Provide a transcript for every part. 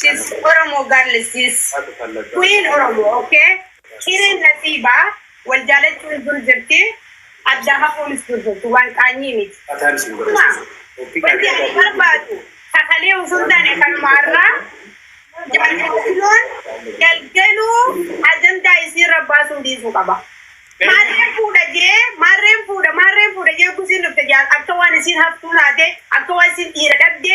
She's Oromo girl sis. Queen Oromo okay. Cireen nasiiba wal jaalachuun dur jirti adda hafuunis dur jirti waan qaanyii miti. Dhuguma wanti ani barbaadu ka kalee osoo hin taane kanuma har'aa jaarsiloon galgaluu ajandaa isiirra baasuu dhiisuu qaba. Maarreen fuudha jee maarreen fuudha maarreen fuudha jee gusiin dhufte jaa akka waan isiin hattuu taate akka waan isiin dhiira dhabde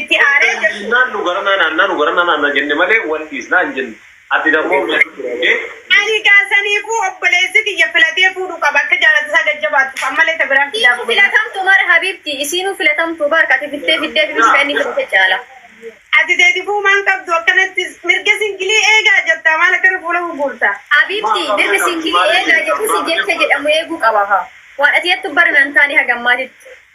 Itti aanee Erga jirtu dhiisnaan nu garanaa naannaa nu garanaa naannaa jenne malee wal dhiisnaa hin jenne. Ati dammoo nu jechuu ture okee. Ani gaa saniifuu obboleessi kiyya filatee fuudhuu qaba akka jaalala isaa gad jabaattuuf ammallee ta biraan fidaa Isiinuu kubeera. filatamtu mara habibti isiinuu filatamtu bar kati filtee fiddee fibis ka inni filate caala. Ati teeti fuumaa hin qabdu akkanatti mirga singilii eegaa jettaa maal akkana fuula gugguurta. Habibti mirga singilii eegaa jedhusi jecha jedhamu eeguu qaba ka. Waan ati jettu bar nan taane hagammaatitti.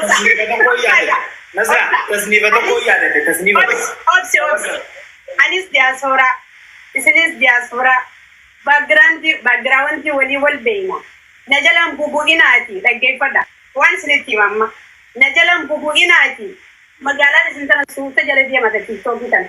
Tasniifa tokko yaadate. Nasra, tasniifa tokko yaadate. Tasniifa tokko. Obse obse. Anis diaspora. Isinis diaspora. Background background walii wal beeyna. Na jalan bubu'inaati dhaggeeffadha. Waan isinitti hima amma. Na jalan bubu'inaati magaalaan isin tana suuta jala deemata tiktookii tana.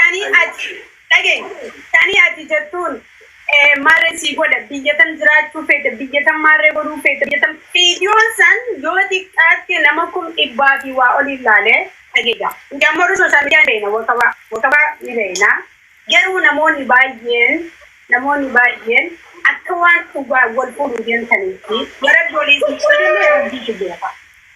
Tanii ati dhageenye tanii ati jettuun maarree sii godha biyya tan jiraachuu feete biyya tan maarree godhuu feete biyya tan viidiyoon san yoo xiqqaatte nama kum dhibbaa fi waa oliin laale dhageja nuti ammoo warri sooshaal miidiyaa ni beeyna wakabaa wakabaa ni beeyna garuu namoonni baay'een namoonni baay'een akka waan dhugaa wal fuudhuu deemtaniitti warabbi olii isin qoodillee rabbiitu beeka.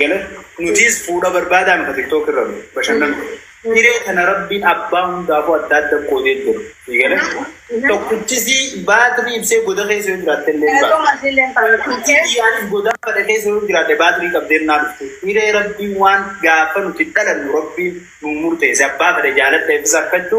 Galan nutiis fuudha barbaadaa nuka tiktok irra nu bashannanu hiree tana rabbiin abbaa hundaafuu adda adda qoodee jira galan tokkichisii baatirii ibsee goda keessa yoo jiraatte illee baatirii goda fada keessa yoo jiraatte baatirii qabdeen naa dhuftu hiree rabbiin waan gaafa nuti dhalannu rabbiin nu murteesse abbaa fada jaaladha ibsa akkachu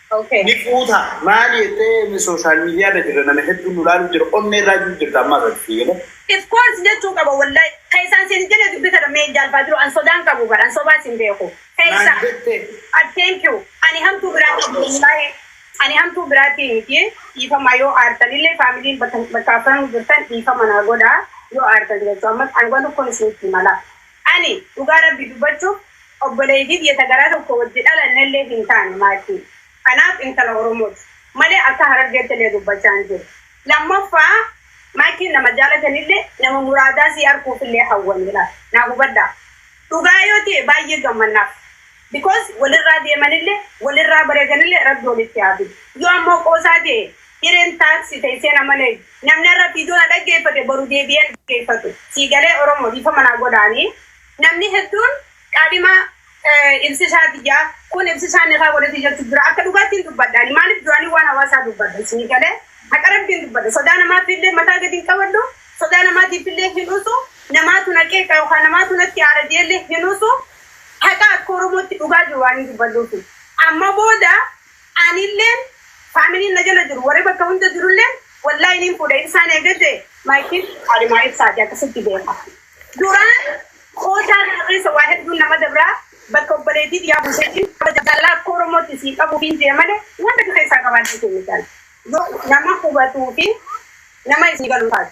Okay. Ni fuuta. Maali jettee inni sooshaal miidiyaa irra jirra nama hedduun nu laalu jira onnee irraa jiru jirta amma irratti jedhe. If course jechuu qaba wallahi. Ka isaan siin jedhe dubbi kana mee jaal baadiru an sodaan qabu bar an sobaa siin beeku. Ka Maal isaa. jette? Ad thank you. Ani hamtuu biraa qabu wallahi. Ani hamtuu biraatii miti. Dhiifama yoo aartan illee faamiliin bakka bakka afran jirtan dhiifama naa godhaa yoo aartan jechuu ammas an waan tokkoon isinitti hima laa. Ani dhugaa rabbi dubbachuuf obboleeytii tiyya ta garaa tokko wajji dhalannellee hin taane maartii kanaaf intala oromooti malee akka harargeettillee dubbachaa hin jiru lammaffaa maakiin nama jaalatanillee nama muraadaa sii arkuufillee hawwaniidha naa hubadhaa dhugaa yoo ta'e baay'ee gammannaaf. Because walirraa deemanille walirraa bareedanille rabbi walitti haa fidu. Yoo ammoo qoosaa ta'e hireen tax teessee na malee namni har'a video na dhaggeeffate boru deebi'ee hin dhaggeeffatu. Sii galee Oromo dhiifama naa godhaani. Namni hedduun qaadhima ibsisaati ja'a kun ibsisaa nikaa godhati jechu jira akka dhugaatti hin dubbadha ani maalif duraanii waan hawaasaa dubbadha sii galee haqa rabbiin dubbadha sodaa namaafillee mataa gadi hin qabadhu sodaa namaatiifillee hin usu namaatu na qeeqa yookaan namaatu natti aara jeellee hin usu Haqa akka Oromootti dhugaa jiru waanin dubbadhuufi. Amma booda anilleen familiin na jala jiru warri bakka hunda jirulleen wallahi niin fuudha Ibsaan eegadhe my kid Kaadhimaa Ibsaati akkasitti beeka. Duraan kootaa kana keessa waa hedduun nama dabra bakka obboleetii tiyyaa buuseetiin kabaja jaalalaa akka Oromootti sii qabuufiin jee malee waan takka keessaa qabaadheetiin miti ani. Yoo nama hubatuufi nama isnii galu taate.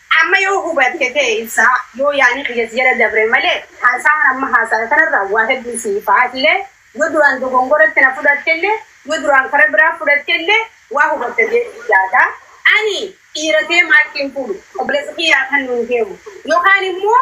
Amma yoo hubatte ta'e ibsaa, yoo yaani kiyya si jala dabre malee haasaan amma haasawe kanarraa waa hedduu si ifa. Atillee yoo duraan dogongoratti na fudhattellee, yoo duraan kara biraa fudhattellee waa hubatta jedheen yaada. Ani dhiira ta'ee maayikii hin fuudhu, obboleessa kiyyaa kannuun deemu. Yookaan immoo.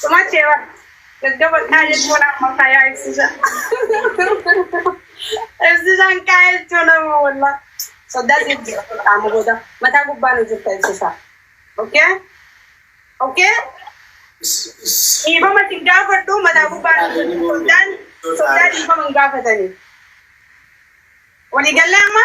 Suma cewa gaggaba kaa jechuun amma kayaa ibsisa. Ibsisaan kaa jechuun amma walla. Soddaa siif jira qaama booda mataa gubbaa nu jirta ibsisa. Okay? Okay? Dhiifama sin gaafadhu mataa gubbaa nu jirta. Soddaan soddaa dhiifama hin gaafatani. Walii gallee amma?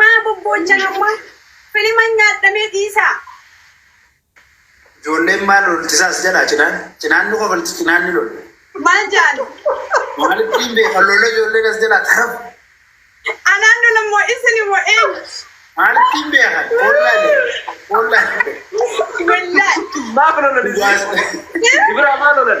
Maa bobboochan amma filima nyaadhamee dhiisaa. Ijoolleen maal lolchisaa as jalaa cinaan cinaan nu kofalchi cinaan ni lola. Maal jaan? Maalitti hin beekan lola ijoolleen as jalaa tarab Anaan lola moo isin moo eenyu? maalitti hin beekan hollaa jedhe hollaa jedhe. Wallahi. Maaf lolan isin? Ibraa maa lolan?